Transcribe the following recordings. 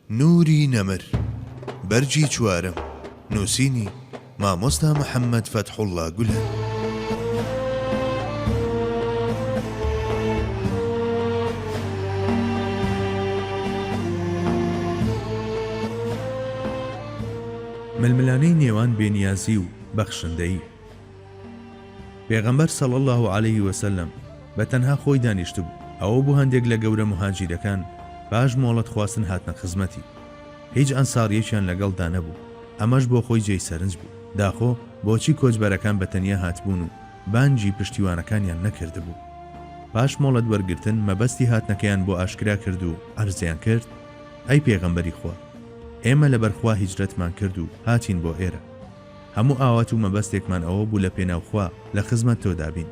نوری نەمر، بەرگی چوارەم، نووسینی، مامۆستا محەممەد فەتحوڵڵا گولەن. ململانێی نێوان بێنیازی و بەخشندەیی. پێغەمبەر صلی اللە علیە وسلم بە تەنها خۆی دانیشتبوو، ئەوە بوو هەندێک لە گەورە موهاجیرەکان پاش مۆڵەت خواستن هاتنە خزمەتی. هیچ ئەنساریەکیان لەگەڵدا نەبوو، ئەمەش بۆ خۆی جێی سەرنج بوو، داخۆ بۆچی کۆچبەرەکان بە تەنیا هاتبوون و بانگی پشتیوانەکانیان نەکردبوو؟ پاش مۆڵەت وەرگرتن مەبەستی هاتنەکەیان بۆ ئاشکرا کرد و عەرزیان کرد، ئەی پێغەمبەری خوا! ئێمە لەبەر خوا هیجرەتمان کرد و هاتین بۆ ئێرە. هەموو ئاوات و مەبەستێکمان ئەوە بوو لە پێناو خوا لە خزمەت تۆدا بین.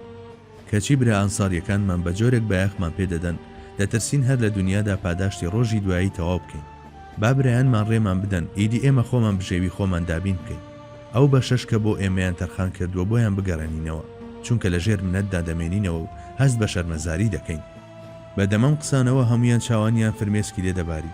کەچی برا ئەنساریەکانمان بە جۆرێک بایەخمان پێ دەدەن، دەترسین هەر لە دونیادا پاداشتی ڕۆژی دوایی تەواو بکەین. با برایانمان ڕێمان بدەن، ئیدی ئێمە خۆمان بژێوی خۆمان دابین بکەین. ئەو بەشەش کە بۆ ئێمەیان تەرخان کردووە بۆیان بگەڕێنینەوە، چونکە لە ژێر منەتدا دەمێنینەوە و هەست بە شەرمەزاری دەکەین. بە دەم ئەم قسانەوە هەموویان چاوانیان فرمێسکی لێ دەباری.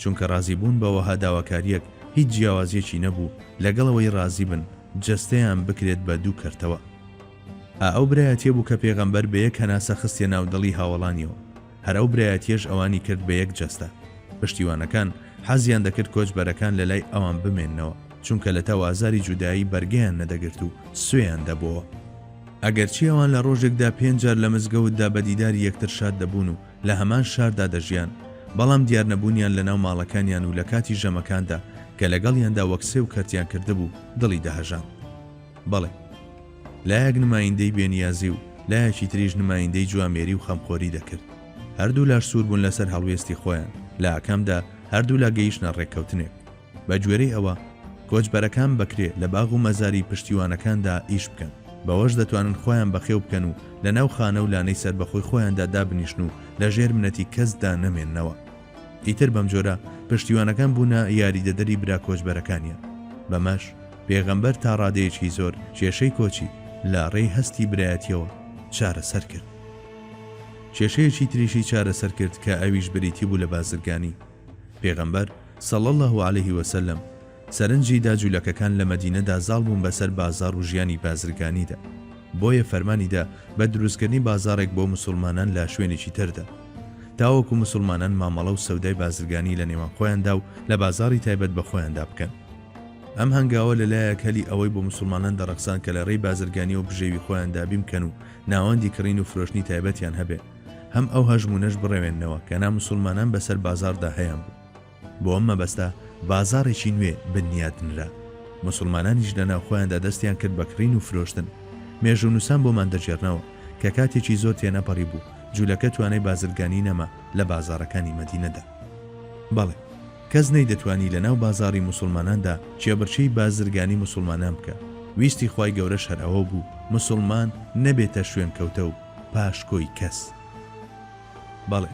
چونکە ڕازیبوون بە وەها داواکاریەک هیچ جیاوازیەکی نەبوو لەگەڵ ئەوەی ڕازیبن جەستەیان بکرێت بە دوو کەرتەوە. ئا ئەو برایەتیە بوو کە پێغەمبەر بە یەک هەناسە خستیە ناو دڵی هاوەڵانیەوە، هەر ئەو برایەتیەش ئەوانی کرد بە یەک جەستە. پشتیوانەکان حەزیان دەکرد کۆچبەرەکان لەلای ئەوان بمێننەوە، چونکە لەتەو ئازاری جودایی بەرگەیان نەدەگرت و سوێیان دەبۆوە. ئەگەرچی ئەوان لە ڕۆژێکدا پێنج جار لە مزگەوتدا بە دیداری یەکتر شاد دەبوون و لە هەمان شاردا دەژیان، بەڵام دیارنەبوونیان لەناو ماڵەکانیان و لەکاتی ژەمەکاندا کە لەگەڵیاندا وەک سێو کەرتیان کردبوو دڵی دەهەژاند. بەڵێ. لایەک نمایندەی بێنیازی و لایەکی تریش نمایندەی جوامێری و خەمخۆری دەکرد. هەردوولاش سووربوون لەسەر هەڵوێستی خۆیان، لە ئاکامدا هەردوولا گەیشتنە ڕێککەوتنێک. بە گوێرەی ئەوە، کۆچبەرەکان بەکرێ لە باغ و مەزاری پشتیوانەکاندا ئیش بکەن، بەوەش دەتوانن خۆیان بەخێو بکەن و لە ناو خانە و لانەی سەربەخۆی خۆیاندا دابنیشن و لە ژێر منەتی کەسدا نەمێننەوە. ئیتر بەم جۆرە پشتیوانەکان بوونە یاریدەدەری برا کۆچبەرەکانیان. بەمەش پێغەمبەر تا ڕادەیەکی زۆر کێشەی کۆچی لە ڕێی هەستی برایەتییەوە چارەسەر کرد. کێشەیەکی تریشی چارەسەر کرد کە ئەویش بریتی بوو لە بازرگانی. پێغەمبەر، صلی اللە علیه و سلم، سەرنجی دا جولەکەکان لە مەدینەدا زاڵ بوون بەسەر بازاڕ و ژیانی بازرگانیدا، بۆیە فەرمانی دا بە دروستکردنی بازاڕێک بۆ موسوڵمانان لە شوێنێکی تردا، تاوەکو موسوڵمانان مامەڵە و سەودای بازرگانی لە نێوان خۆیاندا و لە بازاڕی تایبەت بە خۆیاندا بکەن. ئەم هەنگاوە لە لایەک هەلی ئەوەی بۆ موسوڵمانان دەڕەخساند کە لە ڕێی بازرگانیەوە بژێوی خۆیان دابین بکەن و ناوەندی کڕین و فرۆشتنی تایبەتیان هەبێ، هەم ئەو هەژموونەش بڕەوێننەوە کە ناموسوڵمانان بەسەر بازاڕدا هەیان بوو. بۆ ئەم مەبەستە بازاڕێکی نوێ بنیاتنرا. موسوڵمانانیش لە ناوخۆیاندا دەستیان کرد بە کڕین و فرۆشتن. مێژوونووسان بۆمان دەگێڕنەوە کە کاتێکی زۆر تێنەپەڕیبوو، جوولەکە توانای بازرگانی نەما لە بازاڕەکانی مەدینەدا. بەڵێ، کەس نەیدەتوانی لە ناو بازاڕی موسوڵماناندا کێبڕکێی بازرگانی موسوڵمانان بکا. ویستی خوای گەورەش هەر ئەوە بوو موسوڵمان نەبێتە شوێنکەوتە و پاشکۆی کەس بەڵێ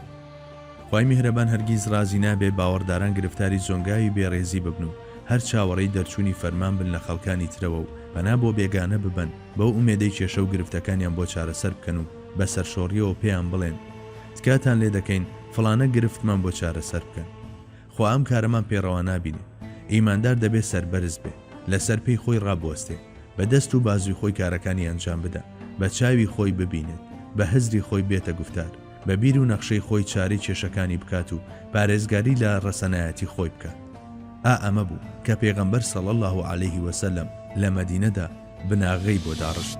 خوای میهرەبان هەرگیز ڕازی نابێ باوەڕداران گرفتاری زۆنگاوی بێ ڕێزی ببن و هەر چاوەڕێی دەرچوونی فەرمان بن لە خەڵکانی ترەوە و پەنا بۆ بێگانە ببەن بەو ئومێدەی کێشە و گرفتەکانیان بۆ چارەسەر بکەن و بە سەرشۆڕیەوە پێیان بڵێن تکاتان لێ دەکەین فڵانە گرفتمان بۆ چارەسەر بکەن خوا ئەم کارەمان پێ ڕەوا نابینێ. ئیماندار دەبێ سەربەرز بێ. لەسەر پێی خۆی ڕابوەستێ. بە دەست و بازوی خۆی کارەکانی ئەنجام بدا. بە چاوی خۆی ببینێت. بە هزری خۆی بێتە گوفتار. بە بیر و نەخشەی خۆی چارەی کێشەکانی بکات و پارێزگاری لە ڕەسەنایەتی خۆی بکات. ئا ئەمە بوو کە پێغەمبەر صلی اللە علیه و سلم لە مەدینەدا، بناغەی بۆ داڕشت.